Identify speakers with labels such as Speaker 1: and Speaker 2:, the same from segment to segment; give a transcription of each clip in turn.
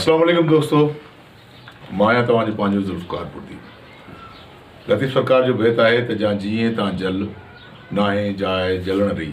Speaker 1: السلام علیکم دوستو مان آهيان توهان جو پنهنجو ذوالفقار پردي لطيف سرڪار جو بيت آهي ته جا جيئين تان جل ناهي جاء جلڻ ري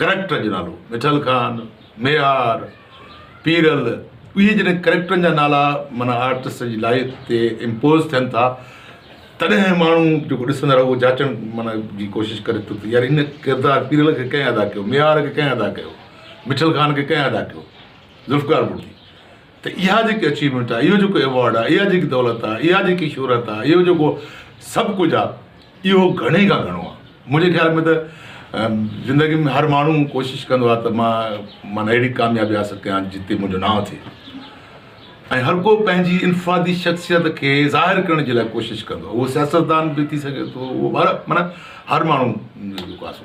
Speaker 1: ڪريڪٽرن جو نالو، مٺل خان، ميهار، پيرل، اهي جڏهن ڪريڪٽرن جا نالا معنيٰ آرٽسٽ جي لائف تي امپوز ٿين ٿا تڏهن ماڻهو جيڪو ڏسندڙ اهو جاچڻ معنيٰ جي ڪوشش ڪري ٿو ته يار هن ڪردار پيرل کي ڪنهن ادا ڪيو، ميهار کي ڪنهن ادا ڪيو، مٺل خان کي ڪنهن ادا ڪيو، ذوالفقار ڀٽي ته اها جيڪي اچيومينٽ آهي، اهو جيڪو ايوارڊ آهي، اها جيڪي دولت آهي، اها جيڪي شهرت آهي، اهو جيڪو سڀ ڪجهه آهي، اهو گهڻي کان گهڻو آهي. منهنجي خيال ۾ ته زندگي ۾ هر ماڻهو ڪوشش ڪندو آهي ته مان معنيٰ اهڙي ڪاميابي حاصل ڪيان جتي منهنجو نانء ٿئي ۽ هر ڪو پنهنجي انفرادي شخصيت کي ظاهر ڪرڻ جي لاء ڪوشش ڪندو آهي. اهو سياستدان به ٿي سگهي ٿو، اهو معنيٰ هر ماڻهو جيڪو آهي سو.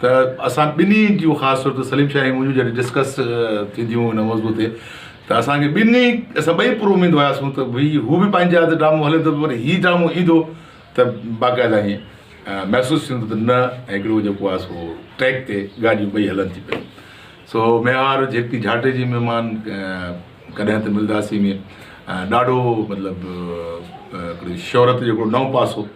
Speaker 1: ته اسان ٻنهي جون خاص طور تي سليم شاهه ۽ منهنجون جڏهن ڊسڪس ٿينديون هيون ان موضوع تي ته اسانکي ٻنهي اسان ٻئي پر اميد هياسون ته ڀئي هو به پنهنجي هٿ ڊرامو هلي ٿو پر هي ڊرامو ايندو ته باقاعده ائين محسوس ٿيندو ته نه هڪڙو جيڪو آهي سو ٽريڪ تي ڳاڏيون ٻئي هلن ٿي پيون سو ميهار جيڪي جھاٽي جي مهمان ڪڏهن ته ملداسي ۾ ڏاڍو مطلب شهرت جو هڪڙو نئون پاسو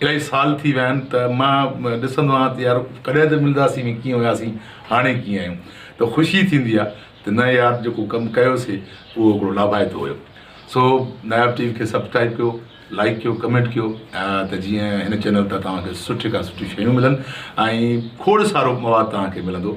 Speaker 1: الائي سال ٿي ويا آهن ته مان ڏسندو آهيان ته يار ڪڏهن ته ملنداسين ڀي ڪيئن هياسين هاڻي ڪيئن آهيون ته خوشي ٿيندي آهي ته نه يار جيڪو ڪم ڪيوسي اهو هڪڙو لاڀائتو هيو سو ناياب ٽي وي کي سبسڪرائب ڪيو لائڪ ڪيو ڪمينٽ ڪيو ته جيئن هن چينل تان توهان کي سٺي کان سٺي شيون ملن ۽ کوڙ سارو مواد توهان کي ملندو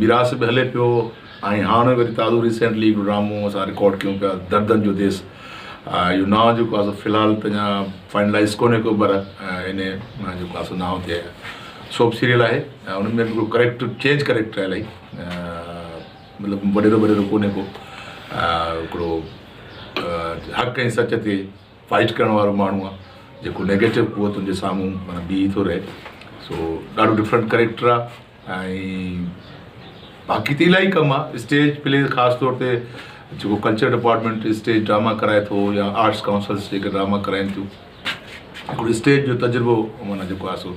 Speaker 1: ميراث به هلي پيو ۽ هاڻ وري تازو ريسينٽلي هڪڙو ڊرامو اسان رڪارڊ ڪيون پيا دردن جو ديس اهو نانء جيڪو آهي سو في الحال ته اڃا فائنلائز ڪونهي ڪيو پر انهي جيڪو آهي سو نانء تي سوپ سيريل آهي ان ۾ به هڪڙو ڪريڪٽر چينج ڪريڪٽر آهي الائي مطلب وڏيرو وڏيرو ڪونهي ڪو هڪڙو حق ۽ سچ تي فائٽ ڪرڻ وارو ماڻهو آهي جيڪو نيگيٽو قوتن جي سامهون معنيٰ بيهي ٿو رهي سو ڏاڍو ڊفرنٽ ڪريڪٽر آهي ۽ باقي ته الاهي ڪم آ اسٽيج پليز خاص طور تي جيڪو ڪلچر ڊپارٽمينٽ اسٽيج ڊراما ڪرائي ٿو يا آرٽس ڪائونسلس جيڪي ڊراما ڪرائين ٿيون هڪڙو اسٽيج جو تجربو معنيٰ جيڪو آ سو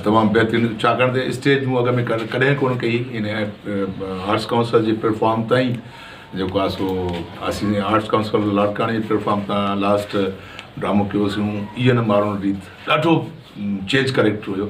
Speaker 1: تمام بهترين ڇاڪاڻ ته اسٽيج مون اڳ ۾ ڪڏهن ڪونه ڪئي ان آرٽس ڪائونسل جي پليٽفارم تان ئي جيڪو آ سو اسين آرٽس ڪائونسل لاڙڪاڻي جي پليٽفارم تان لاسٽ ڊرامو ڪيوسيون ايئن مارون ريت ڏاڍو چينج ڪريڪٽر هيو